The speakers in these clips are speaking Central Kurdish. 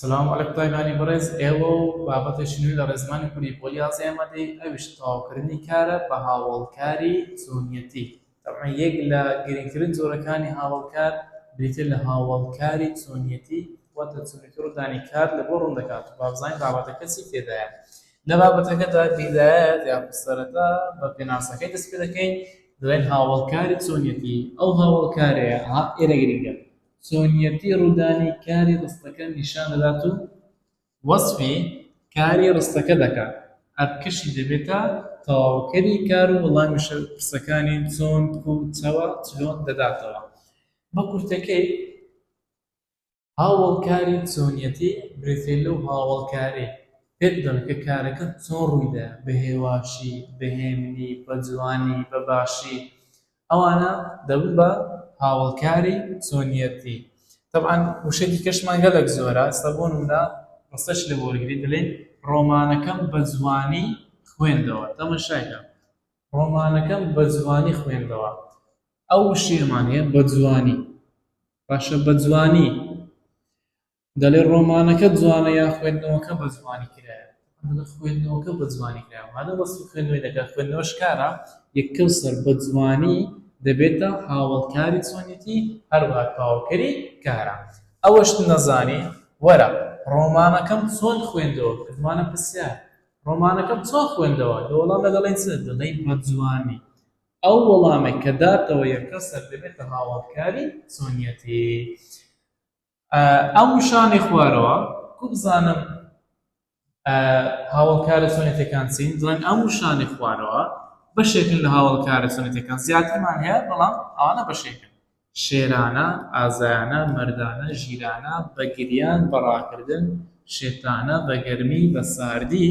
سلام علیک تایبانی بەڕێز ئێوە و بابەتێکی نوێ لە ڕێزمانی کوردی بۆ یازدە ئەمەدەی ئەویش تەواوکردنی کارە بە هاوەڵکاری چۆنیەتی تەبعەن یەک لە گرنگترین جۆرەکانی هاوەڵکار بریتیە لە هاوەڵکاری چۆنیەتی واتە چۆنێتی ڕوودانی کار لە بۆ ڕوون دەکات و بابزانین بابەتەکە چی تێدایە لە بابەتەکەدا بیدایەت یا سەرەتا بە پێناسەکەی دەست پێ دەکەین دەڵێن هاوەڵکاری چۆنیەتی ئەو هاوەڵکارەیە ئێرە گرنگە چۆنیەتی ڕوودانی کاری ڕستەکە نیشان دەدات و وەسفی کاری ڕستەکە دەکات، ئەرکەشی دەبێتە تەواوکەری کار و وەڵامی پرسەکانی چۆن، کوو، چەوە، چلۆن دەداتەوە. بە کورتەکەی، هاوەڵکاری چۆنیەتی بریتیە لەو هاوەڵکارەی پێت دەڵێت کە کارەکە چۆن ڕووی دا، بە هێواشی، بە هێمنی، بە جوانی، بە باشی، ئەوانە دەبن بە هاوەڵکاری چۆنیەتی تەبعەن وشە دیکەشمان گەلەک زۆرە ئەستا بۆ نمونە ڕستەش لێ وەرگری دەلێین ڕۆمانەکەم بە جوانی خوێندەوە تەمەشای کە ڕۆمانەکەم بە جوانی خوێندەوە ئەو وشەیەمان هەیە بە جوانی باشە بە جوانی دەڵێ ڕۆمانەکەت جوانە یا خوێندنەوەکە بە جوانی کرایە؟ من دەڵێم خوێندنەوەکە بە جوانی کرایە، مادەم وەسفی خوێندنەوەی دەکات، خوێندنەوە شکارە، یەک کەوسەر بە جوانی دەبێتە هاوەڵکاری چۆنێتی هەروەها تەواوکەری کارە. ئەوەشت نەزانی، وەرە ڕۆمانەکەم چۆن خوێندەوە؟ کردمانە پرسیار، ڕۆمانەکەم چۆن خوێندەوە؟ لە وەڵامدا دەڵێین چ؟ دەڵێین بە جوانی. ئەو وەڵامەی کە داتەوە یەککەسەر دەبێتە هاوەڵکاری چۆنیەتی. ئەو شانەی خوارەوە کو بزانم هاوڵکارە سۆنێتەکان چین دڵێن ئەم شانەی خوارەوە بەشێکن لە هاوڵکارە سۆنێتەکان زیاترمان هەیە بەڵام ئەوانە بەشێکن شێرانە ئازایانە مردانە ژیرانە بەگریان بەڕاکردن شێتانە بەگەرمی بە ساردی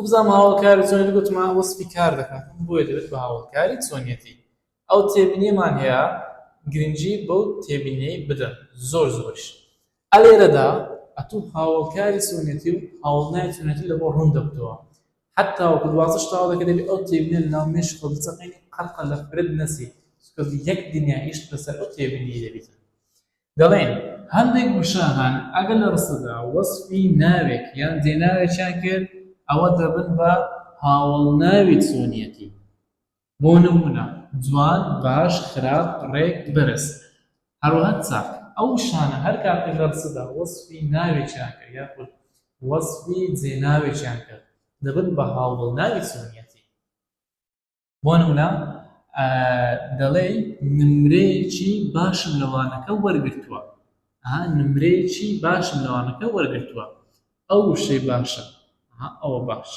وابزانم هاوڵکاری چۆنێتی گوتمە وەسفی کار دەکات بۆیە دەبێت بە هاوڵکاری چۆنێتی ئەو تێبینیەمان هەیە گرنگی بەو تێبینیەی بدەن زۆر زۆریش ئەلێرەدا ئەتوو هاوڵکاری چۆنێتی و هاوڵنای چۆنێتی لەبۆ ڕوون دەبتەوە حتا وەکو دوازدەش تاو دەکە دەبێت ئەو تێبینە لە ناو مێش خۆ بچەقێنی قەلقە لە فرەت نەسی چکە یەک دنیا ئیشت بەسەر ئەو تێبینیە دەبیت دەڵێن، هەندێک وشە هەن ئەگەر لە ڕستەدا وەسفی ناوێک یان دێناوێکیان کرد، ئەوە دەبن بە هاوەڵناوی چۆنیەتی. بۆ نموونە، جوان، باش، خراپ، ڕێک، بەرز. هەروەها چاک. ئەو وشانە هەر کاتێک لە ڕستەدا وەسفی ناوێکیان کرد یاخود وەسفی جێناوێکیان کرد، دەبن بە هاوەڵناوی چۆنیەتی. بۆ نموونە دەڵێی نمرەیەکی باشم لە وانەکە وەرگرتووە ها نمرەیەکی باشم لە وانەکە وەرگرتووە ئەو وشەی باشە ئەوە باش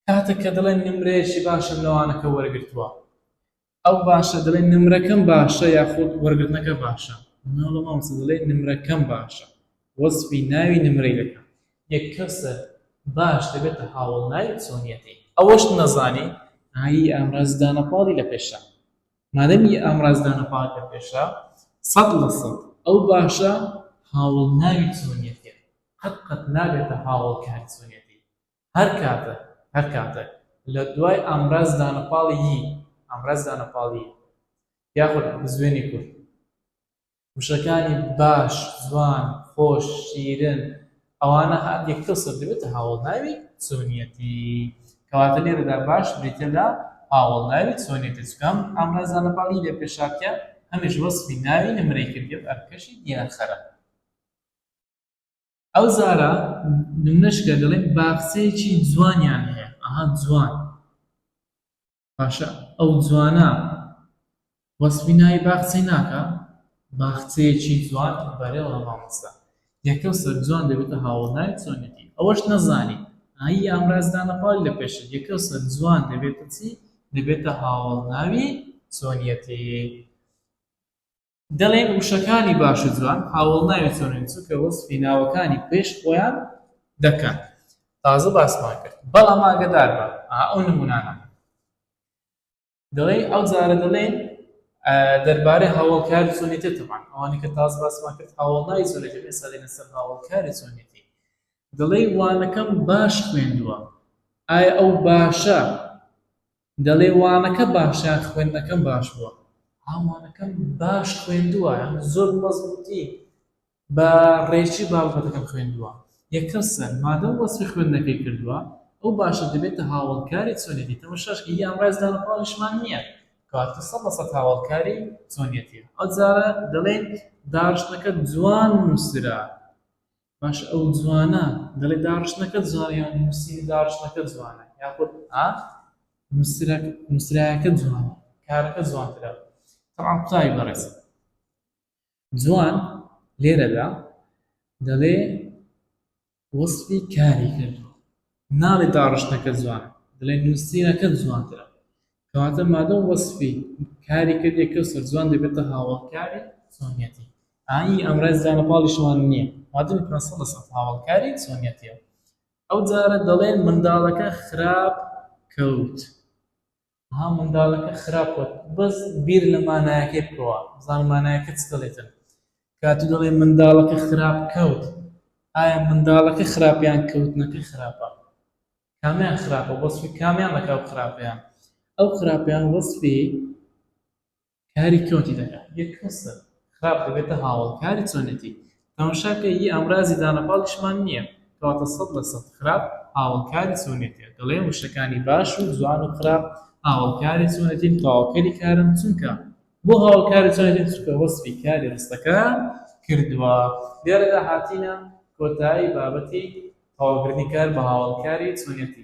کاتێک کە دەڵێن نمرەیەکی باشم لە وانەکە وەرگرتووە ئەو باشە دەڵێن نمرەکەم باشە یاخود وەرگرتنەکە باشە ناڵە مامسە دەڵێ نمرەکەم باشە وەسفی ناوی نمرەی دەکەم. یەک کەسە باش دەبێتە هاوەڵ ناوی چۆنیەتی. ئەوەشت نەزانی ئایی ئامراز دانەپاڵی لە پێشە مادەم ی ئامراز دانەپاڵی لە پێشە سەد لە سەد ئەو باشە هاوەڵ ناوی چۆنیەتیە قەت قەت نابێتە هاوەڵ کاری چۆنیەتی هەر کاتە هەر کاتە لە دوای ئامراز دانەپاڵی ی ئامراز دانەپاڵی یاخود بزوێنی کورد وشەکانی باش، جوان، خۆش، شیرن، ئەوانە هات یەکتر سەر دەبێتە هاوەڵناوی چۆنیەتی. کەواتە لێرەدا باش بریتیە لە هاوەڵناوی چۆنیەتی، چونکە ئەم ئامرازە لەپاڵ ی لە پێش هاتیە ئەمیش وەسفی ناوی نمرەی کردیە و ئەرکەشی دیارخەرە. ئەو جارە نمونەش کە دەڵێم باخچەیەکی جوانیان هەیە، ئەها جوان. باشە ئەو جوانە وەسفی ناوی باخچەی ناکا؟ باخچەیەکی جوان بەرێڵا مامۆستا یەکەو سەر جوان دەبێتە هاوەڵ ناوی چۆنێتی ئەوەش نەزانی ئایی ئامراز دانە پاڵی لە پێشت یەکەو سەر جوان دەبێتە چی دەبێتە هاوەڵ ناوی چۆنیەتی. دەڵێن وشەکانی باش و جوان هاوەڵناوی چۆنن چونکە وەسفی ناوەکانی پێش خۆیان دەکەن تازە باسمان کرد بەڵام ئاگەدار بە ئەو نمونانە دەڵێن ئەو جارە دەڵێن دەربارەی هاوڵکاری چۆنێتێ تەمان ئەوانی کە تاز باسمان کرد هاوڵناوی چۆنێتێ پێ ساڵێنە سەر هاوڵکاری چۆنێتی دڵێ وانەکەم باش خوێندووە ئایا ئەو باشە دەڵێ وانەکە باشە یان خوێندنەکەم باش بووە؟ ها وانەکەم باش خوێندووە یان زۆر بە مەزبووتی بە ڕێکی بابەتەکەم خوێندووە. یەکەم سەر، مادەم وەسفی خوێندنەکەی کردووە، ئەو باشە دەبێتە هاوەڵکاری چۆنێتی، تەمەشاش کە هی ئامرازی دانەپاڵیشمان نییە، کەواتە سەد لە سەد هاوەڵکاری چۆنێتییە. ئەوجارە دەڵێین داڕشتنەکە جوان نووسرا. باشە ئەو جوانە دەڵێ داڕشتنەکە جوانە یان نووسینی داڕشتنەکە جوانە یاخود ئا نووسراکە جوانە کارەکە جوانترە تەعام قوتابی بەڕێز جوان لێرەدا دەڵێ وەسفی کاری کرد ناڵێی داڕشتنەکە جوانە، دەڵێی نووسینەکەت جوانترە. کەواتە مادەم وەسفی کاری کردی کەسە جوان دەبێتە هاوەڵکاری چۆنیەتی. ئا ئی ئامرازی جوانە پاڵیشەوان نییە. مادەمی پەنا سەد لە سەد هاوەڵکاری چۆنیەتییە. ئەوجارە دەڵێن منداڵەکە خراپ کەوت. ها مندالەکە خراپ وت بەس بیر لە مانایەکەی بکەوە بزانە مانایەکە چ دەڵێتن کاتو دەڵێ مندالەکە خراپ کەوت ئایا مندالەکە خراپ یان کەوتنەکە خراپە کامیان خراپە وەسفی کامیان لەکاو خراپەیان ئەو خراپەیان وەسفی کاری کۆتی دەکا یە کەسە خراپ دەبێتە هاوەڵکاری چۆنێتی تەمشا کە ی ئامرازی دانە پاڵیشمان نیە کەواتە سەد لە سەد خراپ هاوەڵکاری چۆنێتیە دەڵێم وشەکانی باش و جوان و خراپ هاوەڵکاری چۆنێتین تەواوکەری کارن چونکە بۆ هاوەڵکاری چۆنێتین چونکە وەسفی کاری ڕستەکەیان کردوە لێرەدا هاتینە کۆتایی بابەتی تەواوکردنی کار بە هاوەڵکاری چۆنێتی.